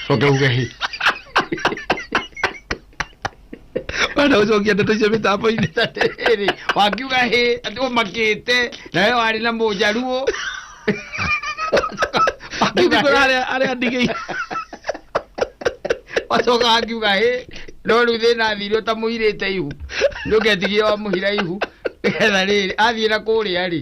Oke oke. Bana ucokia ndeto icio mĩtambo-inĩ Atĩrĩrĩ, wakiuga hĩ atĩ ũmakĩte nawe warĩ na mũjaruo Wakiuga Nĩkũrĩ hĩ, arĩa- arĩa ndigĩi wacoka wakiuga hĩ no rĩu thĩna athire ũtamũirĩte ihu nĩũketigia wamũhira ihu nĩgetha rĩrĩ athiĩ na kũrĩa rĩ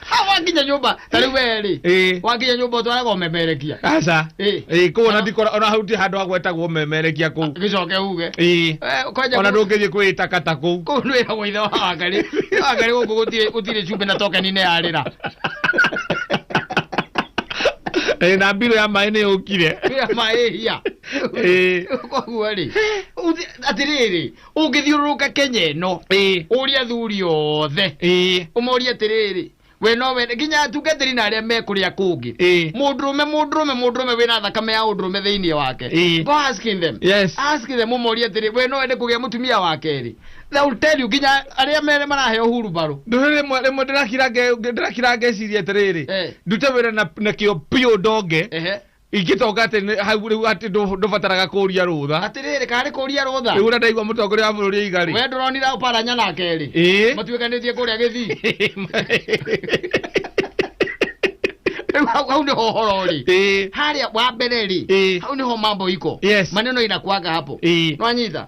ha wakinya nyũmba ta rĩu werĩ Ĩĩ. wakinya nyũmba ũtwaraga ũmemerekia aca Ĩĩ. ĩ kũu ona ndikora ona hau ti handũ ha gwetagwo memerekia kũu gĩcoke uge ĩ Eh, kwanja ona kũ- ndũngĩthiĩ kwĩtakata kũu kũu nĩ wĩragwo ithe wa wangarĩ wangarĩ gũkũ gũtirĩ- gũtirĩ cumbĩ na tokeni nĩ yarĩra Ĩ, na mbirũ ya maĩ nĩ yũkire wĩra maĩhia Ĩĩ. koguo rĩ atĩrĩrĩ ũngĩthiũrũrũka kenya ĩno ĩĩ ũria athuri othe ĩĩ ũmorie atĩrĩrĩ we no wende nginya atungatĩri na arĩa me kũrĩa kũngĩ ĩĩ mũndũrũme mũndũrũme mũndũrũme wĩna thakame ya ũndũrũme thĩinĩ wake Ĩĩ. go asking them yes ask them ũmorie atĩrĩ we no wende kũgĩa mũtumia wa kerĩ they will tell you nginya arĩa mere maraheo huru barũ ndũrĩrĩ rĩmwe rĩmwe ndĩrakira nge- ndĩrakira ngeciria atĩrĩrĩ Eh. ndute wĩra na na kĩo biũ ndonge ehe ingĩtonga atĩ nĩ- hau rĩu atĩ ndũ- ndũbataraga kũria rũtha atĩrĩrĩ kana nĩ kũria rũtha rĩu ũrĩa ndaigua mũtongoria wa bũrũri aiga we rĩ ndũronira ũparanya nake rĩ Ĩĩ. matuĩkanĩtie kũrĩa gĩthii rĩu hau hau nĩho ũhoro rĩ Ĩĩ. harĩa wa mbere rĩ Ĩĩ. hau nĩho mambo iko Yes. maneno inakuaga hapo Ĩĩ. nwanyita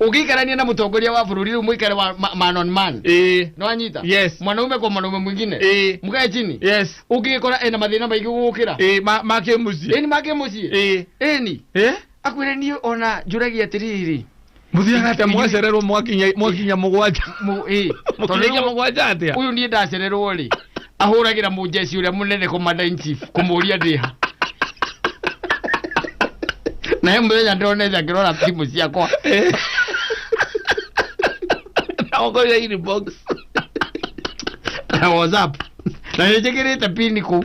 Ukiikarania na mtongoria wa bũrũri rĩu mũikare wa ma- man on man. Eh. Nĩ wanyita? Yes. Mwanaume kwa mwanaume mwingine. Eh. Mkae chini. Yes. Ũngĩkora ena mathĩna maingĩ gũgũkĩra. Eh, ma ma kimusi. Eni make mũciĩ. Eh. Eni. Eh? Akwĩre niĩ ona njũragia atĩrĩrĩ. Muthiaga ate mwacererwo mwakinya mwakinya mugwanja. Mu- eh, tondũ Mwakinya rĩu- mugwanja atia. Ũyũ niĩ ndacererwo rĩ. ahũragĩra mũjeci ũrĩa mũnene commander in chief kũmũria ndĩha na he mũthenya ndonete akĩrora thimũ ciakwa naongoria inbox na whatsapp na nĩnjĩkĩrĩte pini kũu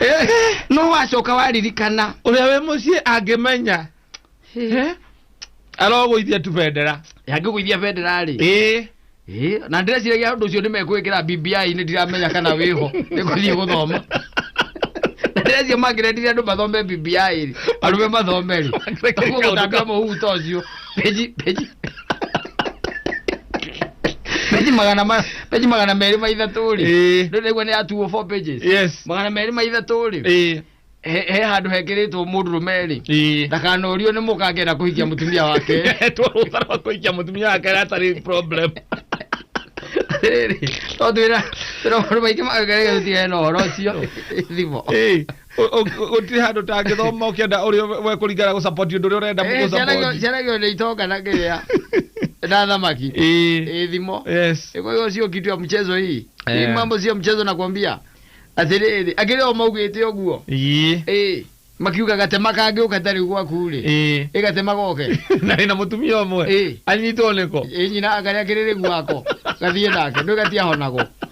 Eh, no wacoka waririkana ũrĩa wĩ mũciĩ angĩmenya Eh, arogũithia tu bendera yangĩgũithia bendera rĩ ĩĩ Ĩĩ, na ndĩreciragia ũndũ ũcio nĩ mekwĩkĩra BBI-inĩ ndiramenya kana wĩho nĩ gũthiĩ gũthoma na ndĩreciria mangĩrendire andũ mathome BBI rĩ arũme mathome rĩ Reke kaũndũ ũgũtambia kau. mũhuhu ta ũcio peji peji peji magana ma peji magana merĩ ma ithatũ rĩ Ĩĩ. rĩu naigua nĩ yatuo four pages yes magana merĩ ma ithatũ rĩ ĩĩ he he handũ hekĩrĩtwo mũndũrũme rĩ ĩĩ ndakanorio nĩ mũka angĩenda kũhikia mũtumia wake twarũtha rwa kũikia mũtumia wake atarĩ problem rĩrĩ tondũ twĩra twĩra maũndũ maingĩ magagerega tũtigane na ũhoro ũcio thimo Ĩĩ. gutiri handu tangithoma ukienda uri we kuringana gå support undu uri urenda Eh, gå ciana gio- support ciana gio nä itonga na ngä na thamaki Eh, ä thimo yes kwa hiyo sio kitu ya mchezo hii Eh. hii mambo sio mchezo nakwambia atiriri akiri o maugite uguo Ii, eh makiuga gatema kangi ukatari gwaku ri ii. eh gatema goke na ina mutumia umwe Eh. anyitwo niko eh nyina akaria kiriri gwako gathie nake ndu gatia honago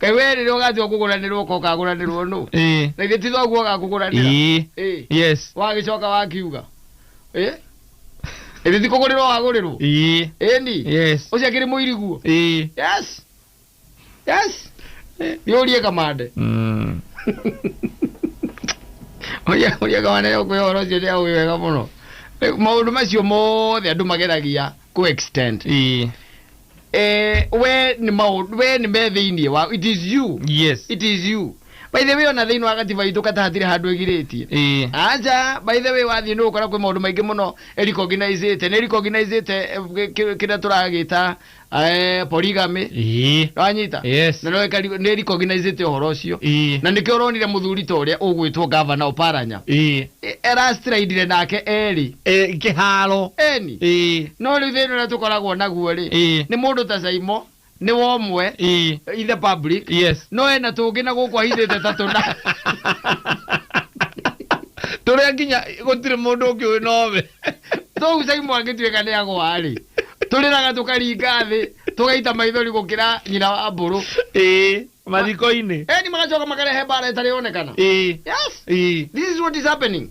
Kaĩ we rĩrĩa ũgatua kũgũranĩrwo ũka ũkagũranĩrwo nũ ĩĩ na githĩ ti thoguo agakũgũranĩra ĩĩ Ĩĩ. yes wagĩcoka wakiuga Ĩĩ. ĩthĩ ti kũgũrĩrwo wagũrĩrwo ĩĩ ĩni yes ũcio akĩrĩ mũiriguo ĩĩ yes yes yũrie kamande Mm. ũria ũria kamande ũkwĩ ũhoro ũcio nĩ aũĩ wega mũno Rĩu maũndũ macio mothe andũ mageragia kũ extend ĩĩ eh, we ni maundu we ni me thiini wa it is you yes it is you by the way ona thiini wa gatiba itũ kata hatire handu igirĩtie eh aja by the way wathiĩ nĩ ũkora kwĩ maũndũ maingĩ mũno ĩrikoginacĩte nĩ ĩrikoginacĩte kĩrĩa tũragĩta eh, polygamy eh wanyita Yes. na nĩ ĩkari- nĩ ĩrikoginacĩte ũhoro ũcio eh na nĩkĩo ũronire mũthuri ta ũrĩa ũgwĩtwo gavana oparanya eh E- erastiraindire nake erĩ Eh, kĩharo eni Eh, no rĩu thĩna ũrĩa tũkoragwo naguo rĩ Eh. nĩ mũndũ ta caimo nĩ wa ũmwe eh, in the public yes no ena tũngĩ na gũkũ ahithĩte ta tũna tũrĩa nginya gũtirĩ mũndũ ũngĩ ũĩ nowe tũu caimo angĩtuĩka nĩ agwa rĩ tũrĩraga tũkaringa thĩ tũgaita maithori gũkĩra nyina wa mbũrũ Eh, mathiko-inĩ Eh, ni magacoka makarehe mbara ĩtarĩ yonekana ĩĩ yes ĩĩ this is what is happening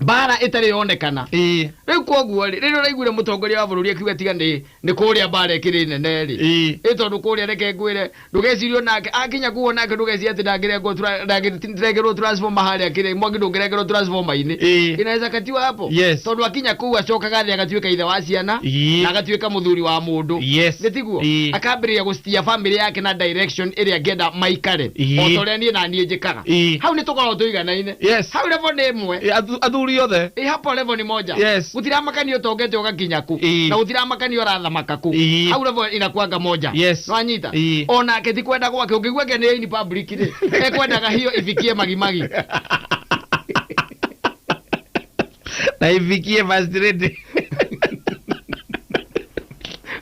mbara ĩtarĩ yonekana ĩĩ rĩu koguo rĩ rĩrĩa ũraiguire mũtongoria wa bũrũri akiuga tiga nĩ nĩ kũrĩa mbara ĩkĩrĩ nene rĩ ĩĩ ĩ tondũ kũrĩa reke ngwĩre ndũgecirie onake akinya kuo nake ndũgecirie atĩ ndangĩrengwo tura ndangĩtinda nĩndĩrekerwo transformer harĩa kĩrĩa mwaki ndũngĩrekerwo transformer-inĩ Ĩĩ. inaweza katiwa hapo Yes. tondũ akinya kũu acokaga thĩ agatuĩka ithe wa ciana Ii. na agatuĩka mũthuri wa mũndũ Yes. nĩ tiguo Ii. akambĩrĩria gũcitia bamĩrĩ yake na direction ĩrĩa angĩenda maikare Ii. o ta ũrĩa niĩ na niĩ njĩkaga Ii. hau nĩ tũkoragwo tũiganaine Yes. hau level nĩ ĩmwe Ĩ, athu- athuri othe Ĩ, hapo level ni moja Yes. gutiramakania utongete ugakinya ku Ii. na gutiramakania urathamaka ku Ii. hau level inakuanga moja Yes. nwanyita Ii. onake ti kwenda gwake ungigua ke ni in public magimaki rĩ ekwendaga hiyo ifikie magimagi na ifikie first lady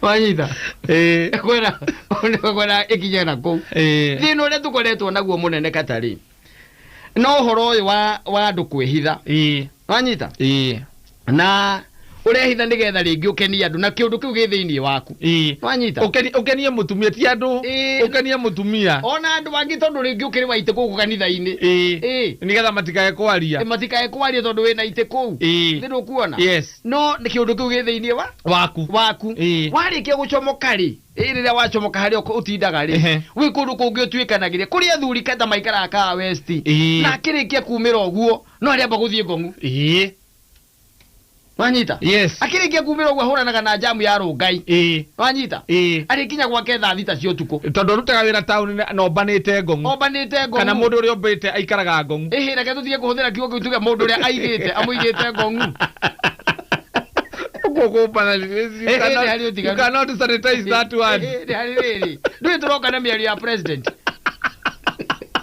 wanyita Eh, ekwenda ekwenda ikinye na kuu eh, thina uria tukoretwo naguo munene katari no horo uyu wa wa andu kwihitha eh. wanyita ĩĩ na ũrehitha nĩgetha rĩngĩ ũkenie andũ na kĩũndũ kĩu gĩ thĩinĩ waku ĩĩ wanyita Ũkeni- ũkenie mũtumia ti andũ Ĩĩ. ũkenie mũtumia ona andũ angĩ tondũ rĩngĩ ũkĩrĩ waitĩ kũu kanitha-inĩ ĩĩ Ĩĩ. nĩgetha matikae kwaria matikae kwaria tondũ wĩna itĩ kũu Ĩĩ. nĩ kuona yes no nĩ kĩũndũ kĩu gĩ thĩinĩ wa waku waku Ĩĩ. warĩkia gũcomoka rĩ ĩ rĩrĩa wacomoka harĩa ũk- ũtindaga rĩ Ehe. gwĩ kũndũ kũngĩ ũtuĩkanagĩria kũrĩ athuri kata maikaraga kaa westi Ĩĩ. na akĩrĩkia kumĩra ũguo no arĩamba gũthiĩ ngong'u ĩĩ wanyita yes akĩrĩkia kumĩra ũguo ahũranaga na jamu ya rũngai ĩĩ wanyita ĩĩ arĩkinya gwake thaa thita cia ũtukũ tondũ arutaga wĩra taũni na- na ombanĩte ngong'u ombanĩte ngong'u kana mũndũ ũrĩa ombĩte aikaraga ngong'u ĩhĩ reke tũtige kũhũthĩra kiugo kĩu tuge mũndũ ũrĩa aigĩte amũigĩte ngong'u Ũguo kũmbana you Ĩhĩ, nĩ harĩ cannot- you ũtiganu. cannot sanitize that word Ĩhĩ, nĩ harĩ rĩrĩ ndũĩ tũroka na mĩario ya president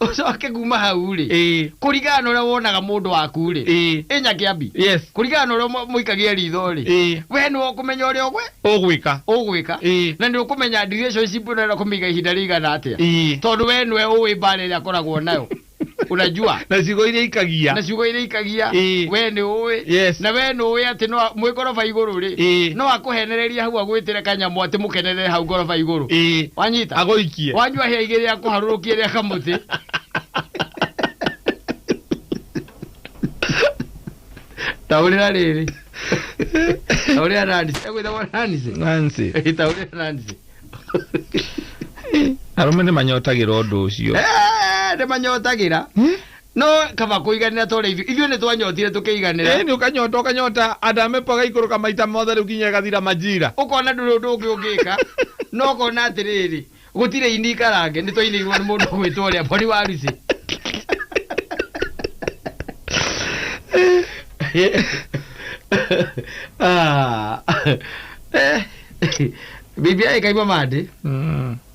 ucoke kuma hau rĩ Ĩĩ. kũringana na ũrĩa wonaga mũndũ waku rĩ Ĩĩ. ĩ nyakĩambi Yes. kũringana na ũrĩa mũikagia ritho rĩ Ĩĩ. we nĩ ũkũmenya ũrĩa ũgwe Ũgwĩka. ũgwĩka Ĩĩ. na nĩ ũkũmenya relationship ĩno ĩrenda kũmĩiga ihinda rĩigana atĩa Ĩĩ. tondũ we nĩwe ũĩ mbara ĩrĩa akoragwo nayo unajua Na ciugo iria ikagia. na ciugo iria ikagia Ĩĩ. we nĩ ũĩ Yes. na we nĩ ũĩ atĩ no a- mwĩ ngoroba igũrũ rĩ Ĩĩ. no akũhenereria hau agwĩtĩre kanyamũ atĩ mũkenerere hau ngoroba igũrũ Ĩĩ. wanyita Agũikie. akamũharũrũkie wanyua hĩa igĩrĩ ya kũharũrũkia rĩa kamũtĩ taũrĩra rĩrĩ taũrĩra nanisi egwĩthagwo nanisi nancy Ĩ, taũrĩra nanisi arũme nĩ manyotagĩra ũndũ ũcio Eh, nĩ manyotagĩra No kaba kũiganĩra tore ithuĩ. Ithuĩ nĩ twanyotire tũkĩiganĩra. Ĩni ũkanyota ũkanyota and amepo agaikũrũka maita mothe rĩu kinya ĩgathira majira. Ũkona ndũrĩ ũndũ ũngĩ ũngĩka no ũkona atĩrĩrĩ gũtirĩ ini ikarange nĩ twainĩirwo nĩ mũndũ ũgwĩtwo ũrĩa Boni wa Rucĩ. Ah. Eh. Bibi aĩ kaimamandĩ. Mm.